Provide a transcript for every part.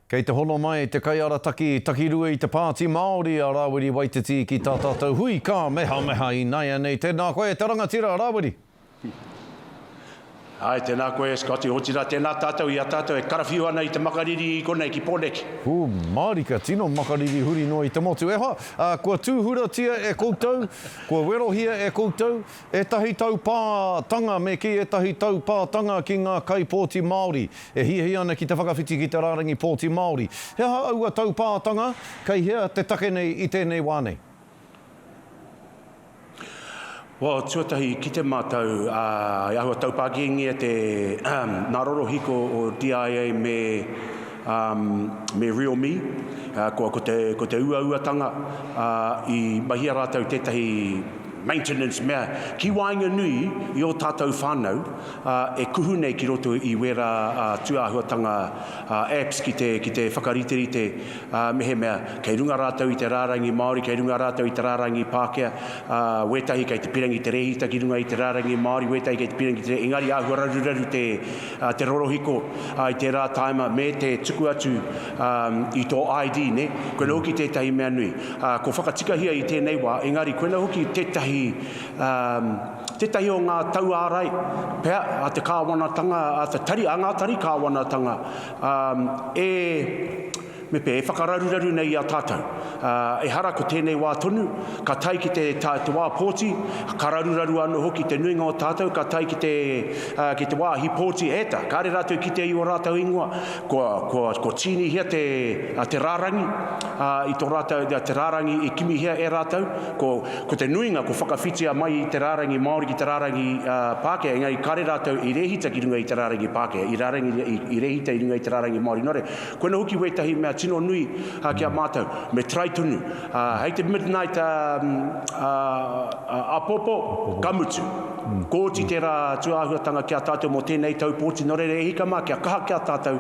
Kei te hono mai te kaiarataki takirua i te Pāti Māori a Rāwiri Waititi ki tā tātou hui kāmehameha ināianei. Tēnā koe, te rangatira, Rāwiri. Āe, tēnā koe, Scotty, otirā tēnā tātou i a tātou e karawhiu ana i te makariri i konei ki Pōneke. Ū, mārika, tino makariri huri noa i te motu. E hoa, ā, kua tūhuratia e koutou, kua werohia e koutou, Ētahi taupātanga Me kī ētahi taupātanga ki ngā kaipōti Māori e hiahia ana ki te whakawhiti ki te rārangi pōti Māori. He aha aua taupātanga? Kei hea te take nei i tēnei wā nei? Well, tuatahi, kite mātou i ahua taupāngiengia te ngā rorohiko o DIA me. Um, me Real Me, uh, ko, ko, te, ko te uauatanga, uh, i mahia rātou tētahi maintenance mea ki waenga nui i o tātou whānau uh, e kuhu nei ki roto i wērā uh, tūāhuatanga uh, apps ki te, ki te whakariterite uh, mehemea kei runga rātou i te rārangi Māori, kei runga rātou i te rārangi Pākehā, uh, wētahi kei te pirangi te rēhita ki runga i te rārangi Māori, wētahi kei te pirangi te rēhita, engari āhua raruraru te, te rorohiko i tērā tāima me te tuku atu i tō ID, ne? Koina hoki tētahi mea nui. Ko whakatikahia i tēnei wā, engari koina hoki tētahi, tētahi o ngā tauārai, pea, a te kāwanatanga, a te tari, a ngā tari kāwanatanga, e, Me pea, e whakararuraru nei i a tātou. Ā, ehara ko tēnei wā tonu, ka tae ki te, tā, te wā pōti, ka raruraru anō hoki te nuinga o tātou, ka tae ki te, ā, ki te wāhi pōti ēta. Kāre rātou i kitea i ō rātou ingoa, kua, kua, kua tīnihia te, ā, te rārangi, ā, i tō rātou, ā, te rārangi i kimihia e rātou. Ko, ko te nuinga, kua whakawhitia mai i te rārangi Māori ki te rārangi, ā, Pākehā, engari kāre rātou i rēhita ki runga i te rārangi Pākehā, i rārangi, i, i rēhita i runga i te rārangi Māori. Nō reira, Koina hoki wētahi mea tino nui ki a mātou, me try tonu. Hei te midnight apopo, ka mutu. Ko oti tērā atu āhuatanga ki a tātou mō tēnei tau pōti, nō reira e hika mā kia kaha ki a tātou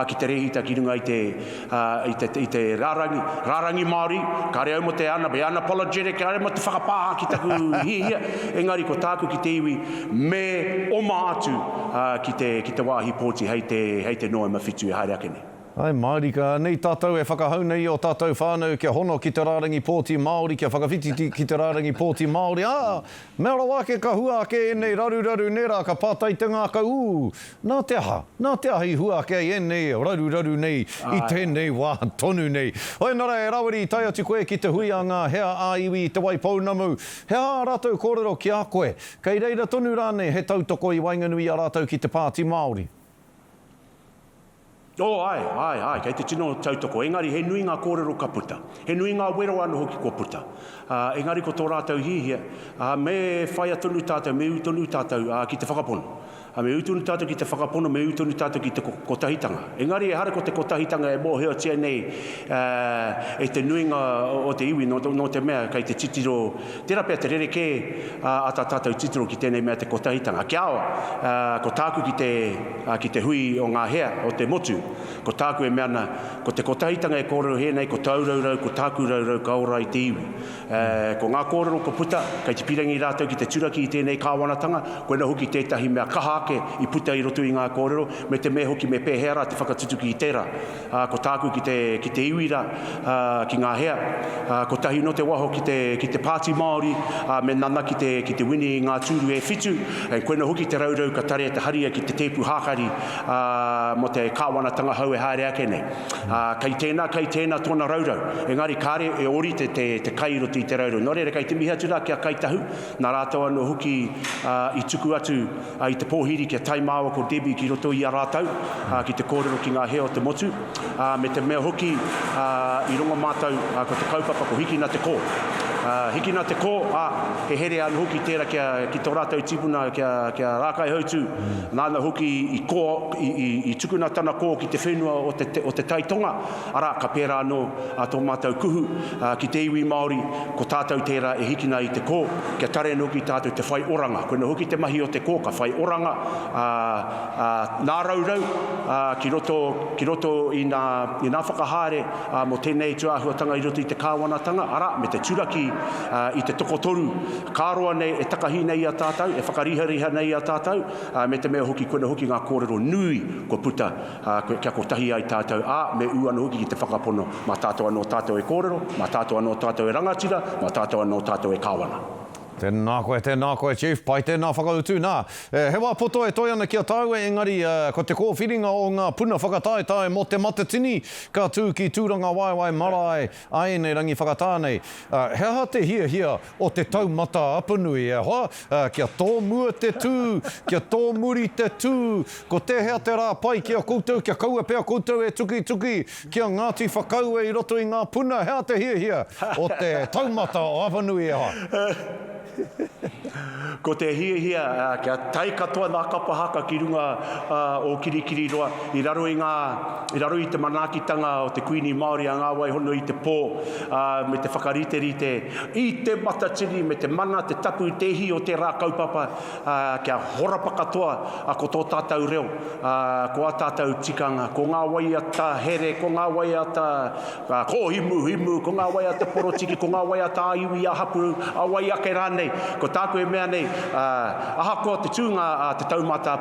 ki te rēhita ki runga i te rārangi, rārangi Māori, kāre au mō te ana, be unapologetic, kāre mō te whakapāha ki taku hiahia, engari ko tāku ki te iwi, Me oma atu ki te, ki te wāhi pōti hei te, hei te Noema whitu e haere ake nei. Ae mārika anei tātou e whakahau nei i ō tātou whānau kia hono ki te rārangi pōti Māori, kia whakawhititi ki te rārangi pōti Māori, ā, mea rawa ake ka hua ake ēnei raruraru nei rā, ka pātai te ngākau, ū, nā te aha, nā te aha i hua ake ai ēnei raruraru nei i tēnei wā tonu nei? Ēnara e Rawiri, tae atu koe ki te hui a ngā hea ā-iwi i Te Waipounamu, he aha ā rātou kōrero ki a koe? Kei reira tonu rānei he tautoko i waenganui i a rātou ki te Pāti Māori? Oh, āe, āe, āe, kei te tino tautoko, engari he nui ngā kōrero ka puta. He nui ngā wero anō hoki kua puta. Ā, engari ko tō rātou hihia, ā, me whaia tonu tātou, me ū tonu tātou, ā, ki te whakapono. Ā, me ū tonu tātou ki te whakapono, me ū tonu tātou ki te kotahitanga. Engari ehara ko te kotahitanga e mōhiotia nei e te nuinga o te iwi, nō te mea kei te titiro, tērā pea te rerekē a tā tātou titiro ki tēnei mea te kotahitanga. Kia ora, ko tāku ki te, ki te hui o ngā hea, o te motu, ko tāku e mea ana, ko te kotahitanga e kōrerohē nei, ko tāu raurau, ko tāku raurau, ka ora ai te iwi. Ko ngā kōrero kua puta, kei te pīrangi rātou ki te turaki i tēnei kāwanatanga, koinā hoki tētahi mea kaha ake i puta i roto i ngā kōrero, me te me hoki me pēhea rā te whakatutuki i tērā. Ko tāku ki te, ki te iwi rā, ki ngā hea, kotahi nō te waho ki te, ki te Pāti Māori, ā, me nana ki te, ki te wini i ngā tūru e whitu, and koinā hoki te raurau ka tarea te haria ki te tēpu hākari, ā, mō te kāwanatanga hou e haere ake nei. Ā, kei tēnā, kei tēnā tōna raurau. Engari kāre e ōrite te, te kai i roto i te raurau. Nō reira, kei te mihi atu rā ki a Kāi Tahu, nā rātou anō hoki ā, i tuku atu ā, i te pōhiri ki a Tai māua ko Debbie ki roto i a rātou ā, ki te kōrero ki ngā hea o te motu, ā, me te mea hoki ā, i rongo mātou ā, ko te kaupapa ko Hikina te kō. Ā, hikina te kō, ā, he herea anō hoki tērā ki a, ki tō rātou tīpuna ki a, ki a Rākaihautū, nāna hoki i kō, I tukuna tana kō ki te whenua o Te Tai Tonga, arā, ka pērā anō tō mātou kuhu ki te iwi Māori, ko tātou tērā e hikina i te kō, kia tare anō ki tātou te whai oranga. Koinā hoki te mahi o te kō, ka whai oranga, ā, ā, nāraurau ki roto, ki roto i nā, i nā whakahaere mō tēnei tū āhuatanga i roto i te Kāwanatanga, arā, me te turaki i te tokotoru, ka roa nei e takahi nei i a tātou, e whakarihariha nei i a tātou. ā, me te mea hoki koina hoki ngā kōrero nui kua puta, ā, kia kotahi ai tātou, ā, me ū anō hoki ki te whakapono, mā tātou anō tātou e kōrero, mā tātou anō tātou e rangatira, mā tātou anō tātou e kāwana. Tēnā koe, tēnā koe Chief, pai tēnā whakautu. Nā, he wā poto e toe ana ki a tāua engari ko te kōwhiringa o ngā puna whakataetae mō Te Matatini ka tū ki Tūrangawaewae marae, A ēnei rangi whakatā nei, he aha te hiahia o te taumata apanui, e hoa? Kia tōmua te tū, kia tōmuri te tū, ko tēhea te rā pai ki a koutou, kia kaua pea koutou e tukituki ki a Ngāti Whakaue i roto i ngā puna, he aha te hiahia o te taumata apanui, e hoa? Ko te hiahia kia tae katoa ngā kapa haka ki runga o Kirikiriroa i raro i ngā, i raro i te manaakitanga o te Kuini Māori a Ngā Waihona i te pō, me te whakariterite i te matatini me te mana, te tapu, te ihi o tērā kaupapa kia horapa katoa ko tō tātou reo, ko ā tātou tikanga, ko ngā waiata here, ko ngā waiata Ngā kōhimuhimu, ko ngā wai a te porotiki, ko ngā wai a tā iwi, a hapū, a wai ake rānei. Ko tāku e mea nei, ahakoa te tūnga a te taumata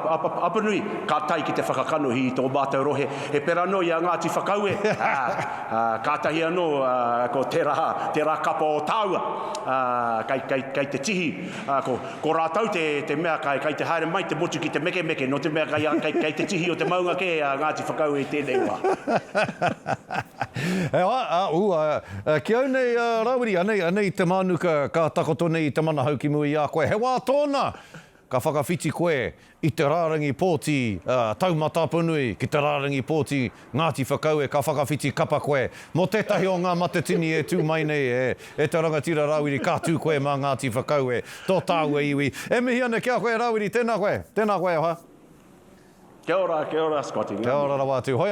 Apanui, ka tae ki te whakakanohi i tō mātou rohe, he pera noa i a Ngāti Whakaue, ā, kātahi anō ko tērā, tērā kapa o tāua, kei te tihi, ko. Ko rātou te, te mea kai, kai te haere mai te motu ki te mekemeke, nō te mea kai, kai, kai te tihi o te maunga kē a Ngāti Whakaue i tēnei wā. e ai, a, ū, a, a, ki au nei, a, Rawiri, anei, anei te mānuka ka takoto nei i te manahau ki mua i a koe. He wā tōna ka whakawhiti koe i te rārangi pōti Taumataponui ki te rārangi pōti Ngāti Whakaue ka whakawhiti kapa koe mō tētahi o ngā matatini e tū mai nei e te rangatira Rawiri ka tū koe mā Ngāti Whakaue tō tāua iwi e mihi ana ki a koe Rawiri tēnā koe tēnā koe e hoa. Kia ora, kia ora Scotty, ngā mihi. Kia ora rawa atu.